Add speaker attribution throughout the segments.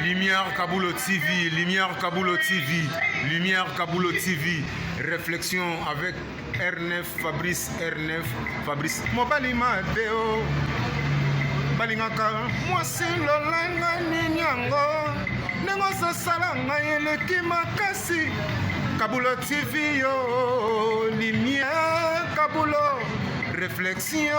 Speaker 1: Lumière Kabulo TV, Lumière Kabulo TV, Lumière Kabulo TV, réflexion avec R9, Fabrice R9, Fabrice. Mobali Mateo, balingaka mwasi lolanga nini yango ndenge ososala ngai eleki makasi Kabulo TV yo, Lumière Kabulo, réflexion. Réflexion,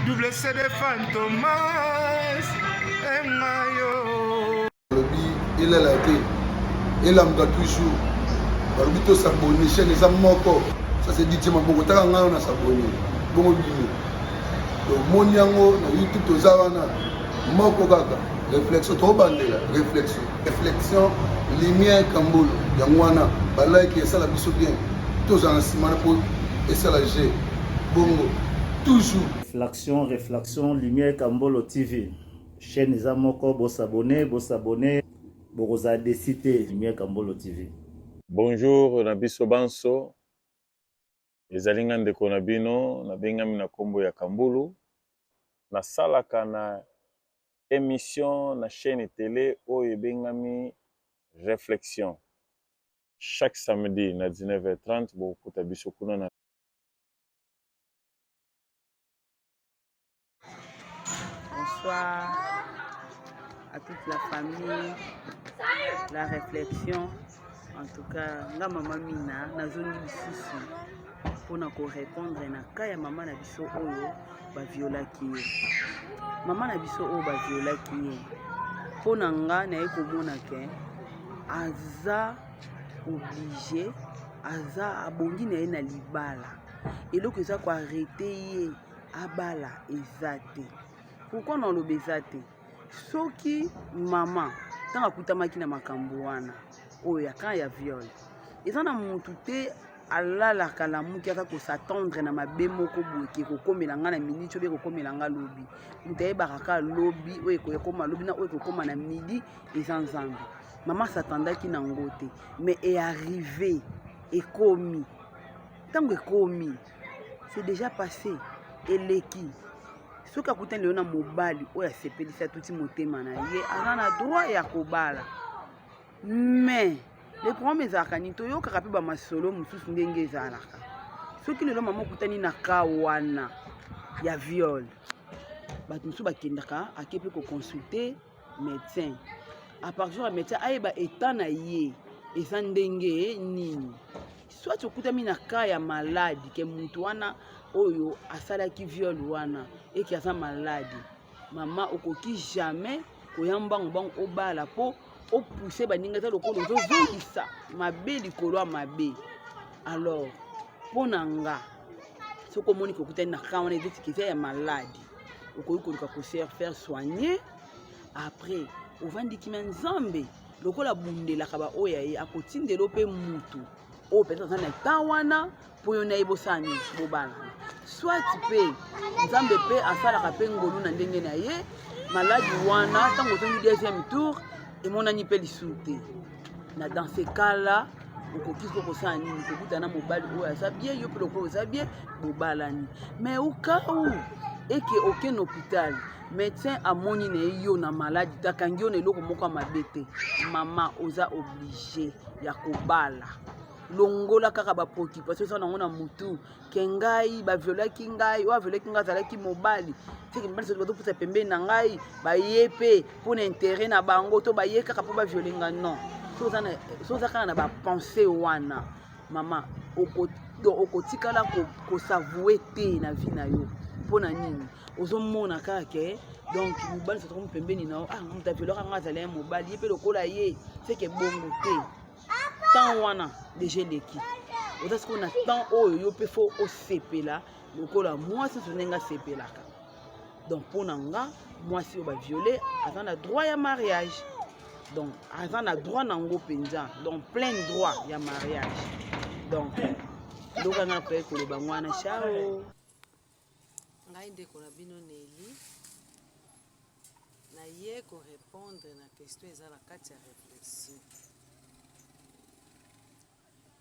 Speaker 1: double CD Fantomas, et
Speaker 2: Mayo. Il est là, il est là, toujours. balobi tosabone chaine eza moko ça c'est dit tima bongo taka ngai na sabone bongo bino tomoni yango na youtube toza wana moko kaka réflexion tobandela réflexion reflexion lumière kambolo yango wana balike esala biso bien tozala na nsima na po esala je bongo toujours reflexion reflexion
Speaker 3: lumière kambolo tv chaîne eza moko bosabone bosabone bokozala desi te lumière kambolo tv bonjour
Speaker 4: na biso banso Ezali nga ndeko na bino nabengami na kombo ya Kambulu, nasalaka na emission na chaîne tele oyo ebengami Reflexion. Chaque samedi na 19h30 bokokuta biso kuna na
Speaker 5: Bonsoir à toute la famille, la réflexion. En tout cas, nga maman Mina, nazongi lisusu mpona korépondre na cas ya mama na biso oyo baviolaki ye mama na biso oyo baviolaki ye mpo na nga naye komona ke aza oblige aza abongi na ye na libala eloko eza koarete ye abala eza te pourkui na oloba eza te soki mama ntango akutamaki na makambo wana oyo ya kan ya viole eza na motu te alalaka lamuki aka kosatendre na mabe moko boye ke ekokomela ngai na miniti oyo ekokomela ngai lobi moto ayebaka kaka lobi oyo ekoyekoma lobi na oyo ekokoma na midi eza nzambe mama satandaki na yango te mais earrive ekomi ntango ekomi c'est déjà passé eleki soki akutani lelo na mobali oyo asepelisi atuti motema na ye aza na droit ya kobala mais le problème ezalaka nini toyokaka mpe bamasolo mosusu ndenge ezalaka soki lelo mama okutani na ka wana ya viole bato mosusu bakendaka ake mpe koconsulte Médecin. À partir ya médecin ayeba état na ye eza ndenge nini. Soit okutami na cas ya malade ke mutu wana oyo asalaki viol wana eke aza malade. Mama okoki jamais koya mbangu mbangu obala po opousse baninga eza lokola ozozongisa mabe likolo ya mabe alors mpo na nga soki omoni kokutani na ka wana ezotiki eza ya maladi okoki koluka koser faire soigner après ovandi kimia nzambe lokola abundelaka baoyo ya ye akotindela mpe mutu oyo mpenza aza na etat wana mpo yo na ye bosani bobala soit mpe nzambe mpe asalaka mpe ngolu na ndenge na ye maladi wana ntango ozongi deuxième tour emonani mpe lisusu te na dans ce cas là okoki ko kosala nini kokuta na mobali oyo aza bie yo mpe lokola oza bie bobalani mais okau eke oke na hôpital médecin amoni na ye yo na maladi takangi yo na eloko moko ya mabe te mama oza oblige ya kobala longola kaka bapreoccupation eza nango na motu ke ngai baviolaki ngai oyo aviolaki ngai azalaki mobali teke mibali soki bazopusa pembeni na ngai baye mpe mpo na intere na bango to baye kaka mpo baviole nga non so oza kaka na bapense wana mama okotikala kosavoue te na vie na yo mpo na nini ozomona kaka ke donc mobali sotokomi pembeni na yo ah moto aviolaka ngai azali ya mobali ye mpe lokola ye seke bongo te temps wana deja eleki oza sikoyo na temps oyo yo mpe fo osepela lokola mwasi oso ndenge asepelaka donc mpo na nga mwasi oyo baviole aza na droit ya mariage donc aza na droit na yango mpenza donc plein droit ya mariage donc eloko anga nakoki koloba ngo wana chao
Speaker 6: Ngai ndeko na bino Nelly naye ko répondre na question eza na kati ya réflexion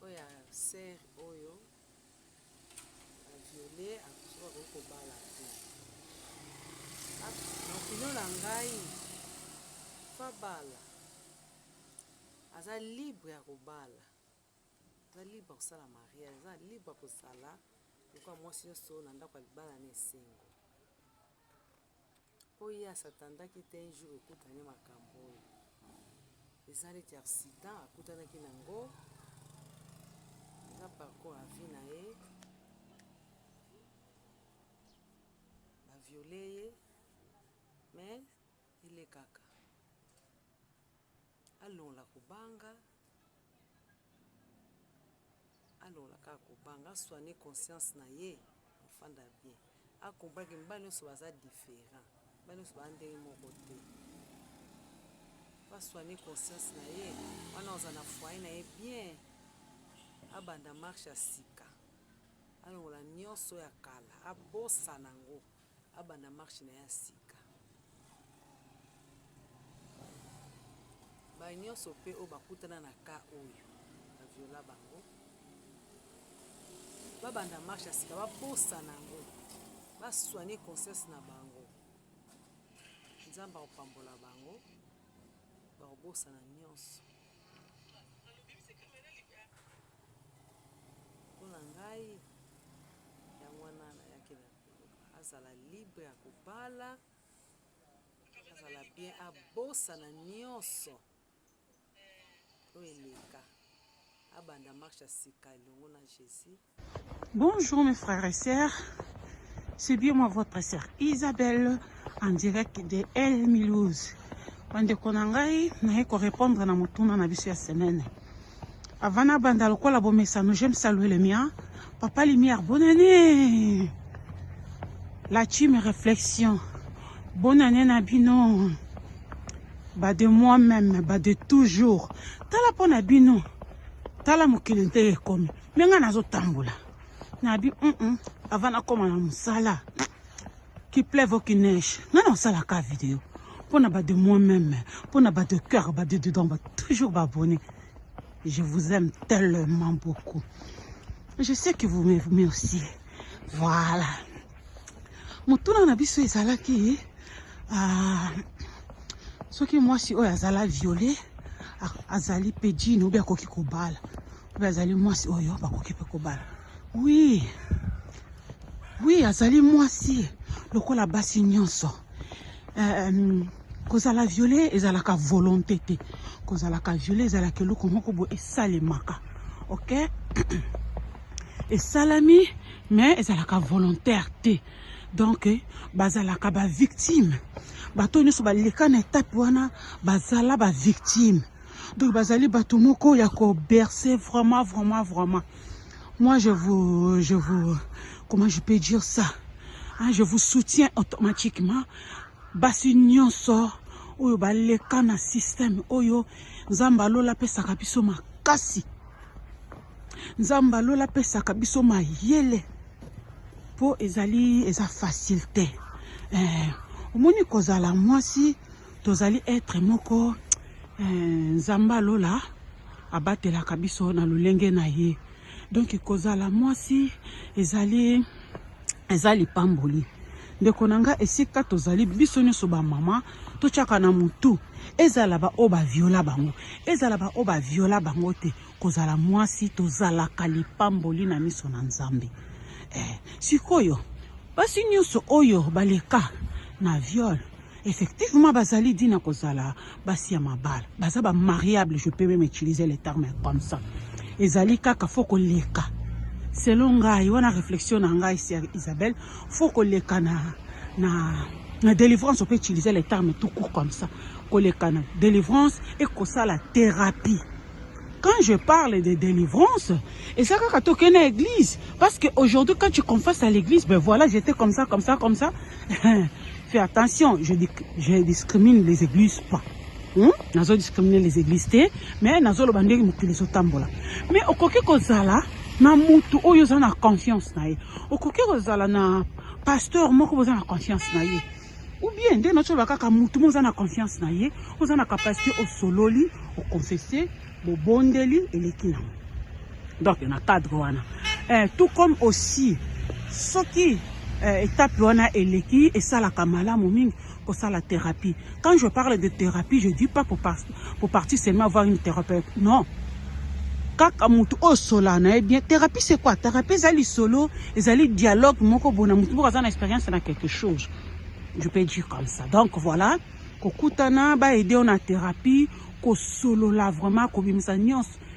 Speaker 6: oyo ya ser oyo aviole akoki bakoki kobala te makino ah, na ngai fabala aza libre ya kobala Aza libre akosala mariage, aza libre akozala lokola mwasi nyonso na ndako ya libala na esengo. Mpo ye asatandaki te un jour ekutani makambo oyo eza neti accident akutanaki na yango, eza parcours ya vie na ye, baviole ye mais elekaka Alongola kobanga, alongola kaka kobanga, aswane conscience na ye, afanda bien, akomprendre ke mibali nyonso baza different, mibali nyonso baza ndenge moko te, aswane conscience na ye, wana aza na foyer na ye bien, abanda marche ya sika, alongola nyonso ya kala, abosana yango. Abanda marche na ya sika. Ba nyonso pe oyo bakutana na ka oyo ba viola bango. Babanda marche ya sika baposa na yango. Ba soigner conscience na bango. Nzambe akopambola bango. Bakobosana nyonso. Mpo na ngai yango wana nayaki na azala libre ya kobala azala bien abosana nyonso oyo eleka abanda marche ya sika elongo na jésus bonjour
Speaker 7: mes frères et sœurs c'est bien moi votre sœur isabelle en direct de el milouse bandeko na ngai naye korépondre na motuna na biso ya semaine Avant na banda lokola bomesano, je me salue le mien. Papa Lumière, bonne année. La team réflexion. Bonne année na bino. Ba de moi-même, ba de toujours. Tala po na bino. Tala mokili nte ekomi. Menga nazo tambola. Na bi, mm -mm. Avant na koma na musala. qui pleuve ou qui neige ngai na osala ka video mpo na ba de moi même mpo na ba de cœur ba de dedans ba toujours ba abonné je vous aime tellement beaucoup je sais que vous m'aimez aussi voilà motuna na biso ezalaki ah, soki mwasi oyo azala viole azali pe jini obi akoki kobala Pe azali mwasi oyo bakoki pe kobala. Oui. Oui, azali mwasi lokola basi nyonso. Euh, kozala viole ezalaka volonté te. Kozalaka viole ezalaka eloko moko bo esalemaka. OK? esalami mais ezalaka volontaire te. Donc bazalaka ba victime. Bato nyonso baleka na etape wana bazala ba victime. Donc bazali bato moko ya ko bercer vraiment vraiment vraiment. Moi je vous je vous comment je peux dire ça? Hein, je vous soutiens automatiquement. Basi nyonso oyo baleka na système oyo Nzambe alola pesaka biso makasi. Nzambe alola pesaka biso mayele. Po ezali eza facile te. Eh, omoni kozala mwasi Tozali etre moko eh, Nzambe ya lola abatelaka biso na lolenge na ye. Donc kozala mwasi ezali eza lipamboli ndeko na nga esika tozali biso nyonso bamama totyaka na motu ezala baoyo baviola bango ezala baoyo baviola bango te kozala mwasi tozalaka lipamboli na miso na nzambe eh, sikoyo basi nyonso oyo baleka na viole Effectivement bazali dit na kozala basi ya mabala baza ba mariable je peux même utiliser le terme comme ça ezali kaka fo koleka selon ngai wana réflexion na ngai sœur Isabelle faut koleka na na na délivrance on peut utiliser les termes tout court comme ça koleka na délivrance et kosala thérapie Quand je parle de délivrance, et ça quand tu connais l'église, parce que aujourd'hui quand tu confesses à l'église, ben voilà, j'étais comme ça, comme ça, comme ça. Fais attention, je, je discrimine les églises pas. Hmm? nazo discriminer les églises te mais nazoloba ndenge mokili ezotambola mais okoki kozala na mutu oyo oza na confiance na ye okoki kozala na pasteur moko boza na confiance na ye ou bien nde nacho ba kaka mutu mo na confiance na ye oza na capacité osololi oconfesse bobondeli eleki nango donc na cadre wana eh, tout comme aussi soki eh, étape wana eleki esalaka malamu mingi kosala thérapie quand je parle de thérapie je dis pas pour Pour partir seulement avoir une thérapeute. Non. kaka motu oyo sola na ye bien thérapie c'est quoi thérapie ezali solo ezali dialogue moko bona motu moko aza na expérience na quelque chose je peux dire comme ça donc voilà kokutana baede yo na thérapie kosolola vraiment kobimisa nyonso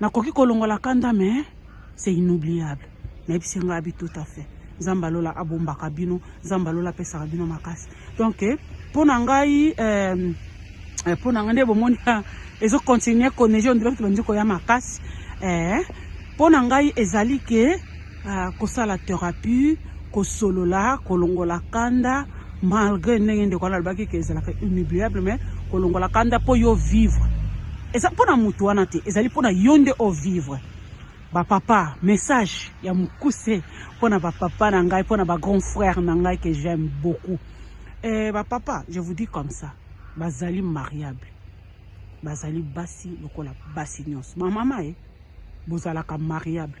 Speaker 7: nakoki kolongola kanda mais c'est inoubliable nayebisi yango abi tout à fait nzambe alola abombaka bino nzambe alola apesaka bino makasi donc mpo na ngai euh, eh, mpo na ngai nde bomoni ah, ezokontinue konege ondire kutu bandi koya makasi mpo eh, na ngai ezali ke Ah, kosala therapie kosolola kolongola kanda malgré ndenge ndeko wana alobaki ke ezalaka inoubliable mais kolongola kanda mpo yo vivre eza mpo na motu wana te ezali mpo na yo nde o vivre bapapa message ya mokuse mpo na bapapa na ngai mpo na bagrand frère na ngai que j'aime beaucoup eh, bapapa je vous dis comme ça bazali mariable bazali basi lokola basi nyonso mamama e eh, bozalaka mariable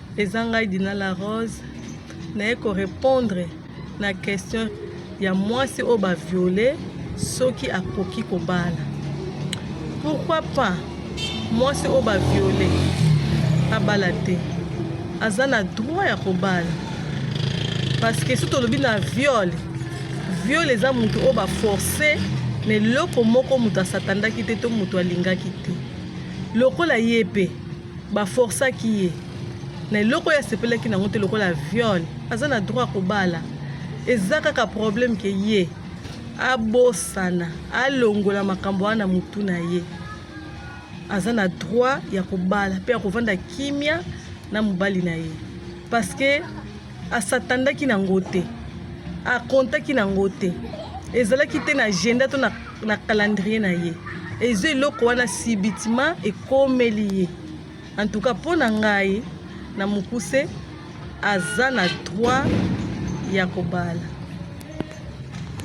Speaker 8: Eza ngai Dina la Rose naye ko répondre na question ya mwasi oyo ba viole soki akoki kobala. Pourquoi pas mwasi oyo ba viole abala te, aza na droit ya kobala parce que soki tolobi na viole, viole eza moto oyo ba force na eloko moko moto asatandaki te to moto alingaki te lokola ye mpe Ba forcaki ye na eloko oyo asepelaki nango te lokola viol. Aza na droit ya kobala. Eza kaka problème ke ye abosana alongola makambo wana na mutu na ye. Aza na droit ya kobala pe ya kovanda kimia na mobali na ye parce que asatandaki na yango te akontaki na yango te ezalaki te na agenda to na, na calendrier na ye eza eloko wana sibitima ekomeli ye en tout cas mpo na ngai na mokuse aza na droit ya kobala